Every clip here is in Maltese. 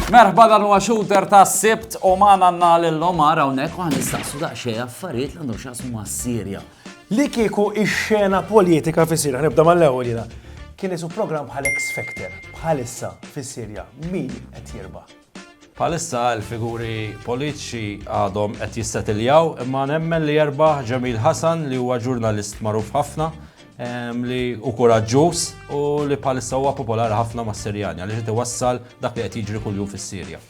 Merħba dan huwa shooter ta' sibt u ma għandna lil Omar hawnhekk u ħanistaqsu daqsxejn affarijiet li għandhom x'għasmu mas-Sirja. Li kieku ix-xena politika fis-Sirja, nibda mal-ewwel jiena, kien isu programm bħal X Factor bħalissa fis-Sirja, min qed jirba'? Bħalissa l-figuri politiċi għadhom qed jissetiljaw imma nemmen li jerbaħ Jamil Hassan li huwa ġurnalist magħruf ħafna li u kuraġġuż u li bħalissa huwa popolari ħafna mas-Sirjani għaliex qed iwassal dak li qed jiġri kuljum fis-Sirja.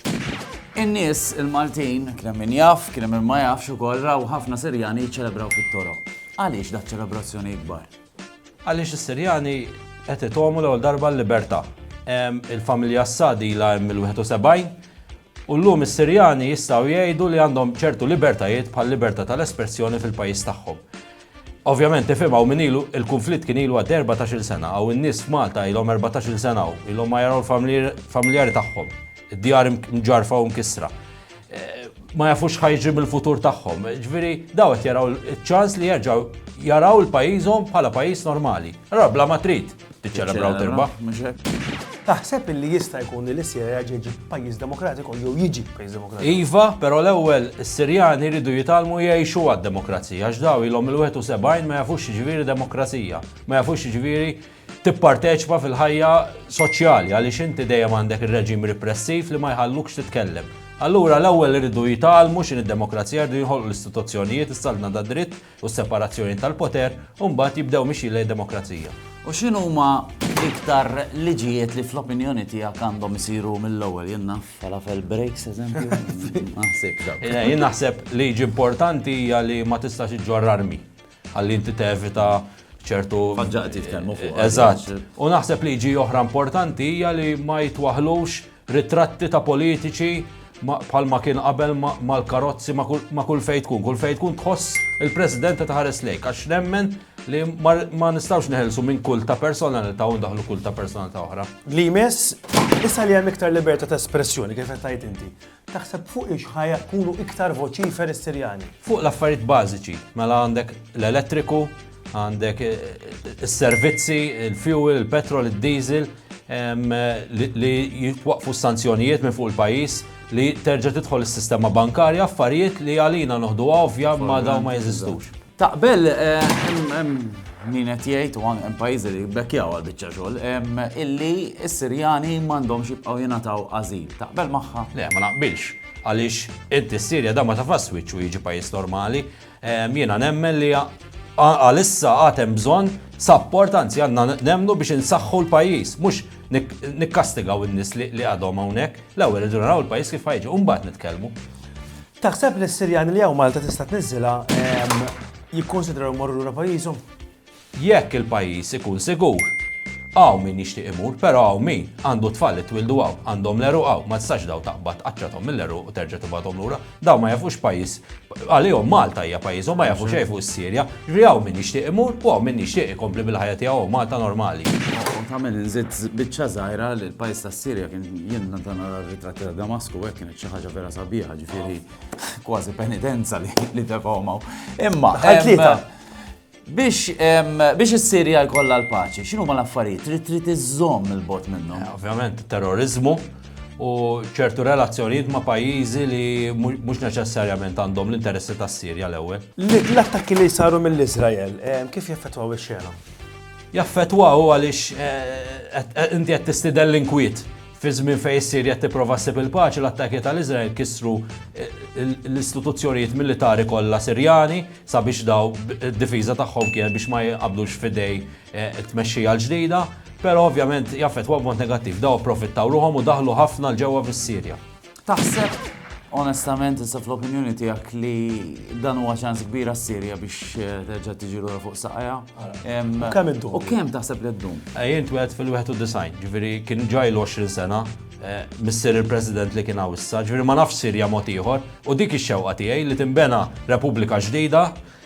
In-nies il-Maltin kien hemm min jaf, kien hemm min ma jafx ukoll raw ħafna Sirjani jiċċelebraw fit-toroq. Għaliex dak ċelebrazzjoni ikbar? Għaliex is-Sirjani qed itomu l-ewwel darba l-libertà. Il-familja Assad ilha hemm mill-71 u llum is-Sirjani jistgħu jgħidu li għandhom ċertu libertajiet bħal libertà tal-espressjoni fil-pajjiż tagħhom. Ovvjament tifhem hawn min ilu il-kunflitt kien ilu għaddej 14-il sena, hawn in-nies f'Malta ilhom 14-il sena hawn, ilhom ma jaraw il-familjari tagħhom, id-djar mġarrfa u mkissra. ma jafux ħajġi mill-futur tagħhom. Ġviri, daw qed jaraw ċans li jerġaw jaraw il-pajjiżhom bħala pajjiż normali. Allora bla ma trid tiċċelebraw terba. Taħseb illi jista' jkun li l-Sirja ġeġi pajjiż demokratiku jew jiġi pajjiż demokratiku. Iva, però l-ewwel is-Sirjani jridu jitalmu jgħixu għad-demokrazija għax daw ilhom il-71 ma jafux ġviri demokrazija, ma jafux ġviri tipparteċipa fil-ħajja soċjali għaliex inti dejjem għandek ir-reġim repressiv li ma jħallukx titkellem. Allura l-ewwel iridu jitgħallmu x'in id-demokrazija rridu jinħolqu l-istituzzjonijiet is-saltna ta' dritt u s-separazzjoni tal-poter u mbagħad jibdew mixjin lejn demokrazija. U x'in huma iktar liġijiet li fl-opinjoni tiegħek għandhom isiru mill-ewwel jien naf falafel breaks eżempju. Naħseb. Eh, jien naħseb liġi importanti hija li ma tistax iġġorr armi. Ħalli inti tevita ċertu. Ħaġa qed jitkellmu fuq. Eżatt. U naħseb li ġi oħra importanti hija li ma jitwaħlux ritratti ta' politiċi bħalma kien qabel mal-karozzi ma' kull fejn tkun. Kull fejn tkun tħoss il-President ta' ħares lejk għax nemmen li ma nistgħux neħelsu minn kull ta' personalità u ndaħlu kull ta' personalità oħra. Li jmiss, issa li hemm iktar libertà ta' espressjoni kif qed tgħid inti. Taħseb fuqiex ħa jkunu iktar voċifer is-Sirjani? Fuq l-affarijiet bażiċi, mela għandek l-elettriku, għandek is-servizzi, il-fuel, il-petrol, id-diesel, li jitwaqfu s-sanzjonijiet minn fuq il-pajjiż li terġa' tidħol is-sistema bankarja affarijiet li għalina noħdu ovvja ma dawn ma jeżistux. Taqbel, hemm min qed jgħid u hemm pajjiżi li jbekkjaw għal biċċa xogħol illi s-Sirjani m'għandhomx jibqgħu jingħataw ażil. Taqbel magħha? Le, ma naqbilx. Għaliex inti s-Sirja da ma tafax wiċċu jiġi pajjiż normali. Jiena nemmen li għalissa għad hemm bżonn sapport anzi għandna nemmnu biex insaħħu l-pajjiż, mhux nikkastigaw in-nies li għadhom hawnhekk. L-ewwel irridu naraw il-pajjiż kif ħajġi u mbagħad nitkellmu. Taħseb li s-Sirjani li hawn Malta tista' tniżżilha jikkunsidraw imorru lura pajjiżhom? Jekk il-pajjiż ikun sigur. Hawn min jixtieq imur, però hawn min għandu t-tfal li twildu hawn, għandhom l-għeruq hawn, ma tistax dawn taqbad tqaċċathom mill-għeruq u terġa' tibgħathom lura. Dawn ma jafux pajjiż, għalihom Malta hija pajjiżhom, ma jafu xejn fuq is-Sirja. Jiġifieri hawn min jixtieq imur u hawn min jixtieq ikompli bil-ħajja tiegħu hawn Malta normali. Tagħmel inżid biċċa żgħira li l-pajjiż tas-Sirja kien, jien meta nara r-ritratti ta' Damasku hekk kien Xi ħaġa vera sabiħa, ġifieri kważi penitenza li li tefgħu maw. Imma Daħħal em, tlieta. biex em, biex is-Sirja jkollha l-paċi, x'inhu ma l-affarijiet trid trid iżżomm il-bot minnhom. Ovvjament, terrorizmu u ċertu relazzjonijiet ma' pajjiżi li mu- mhux neċessarjament għandhom l-interessi tas-Sirja l-ewwel. Li- L-attakki li saru mill-Izrael, eh, kif jaffettwaw ix-xena? Jaffetwaw għaliex eh, qed- qed- inti qed tistidel l-inkwiet. Fi żmien fejn is-Sirja qed tipprova ssib il-paċi, l-attakki tal-Iżrael kissru l-istituzzjonijiet militari kollha Sirjani sabiex dawn id-difiża tagħhom kienet biex ma jinqabdux f'idej it-tmexxija l-ġdida, però ovvjament jaffettwaw b'mod negattiv. Dawn approfittaw ruħhom u daħlu ħafna 'l ġewwa fis-Sirja. Taħseb onestament issa fl-opinjoni tiegħek li dan huwa ċans kbira s-Sirja biex eh, terġa' tiġi lura fuq saqajja? U kemm iddum? U kemm taħseb li ddum? Eh, jien twed fil-91, ġifieri kien ġaj l-20 sena, eh, missier il-President li kien issa, ġifieri ma nafx Sirja mod ieħor, u dik ix-xewqa tiegħi li timbena Repubblika ġdida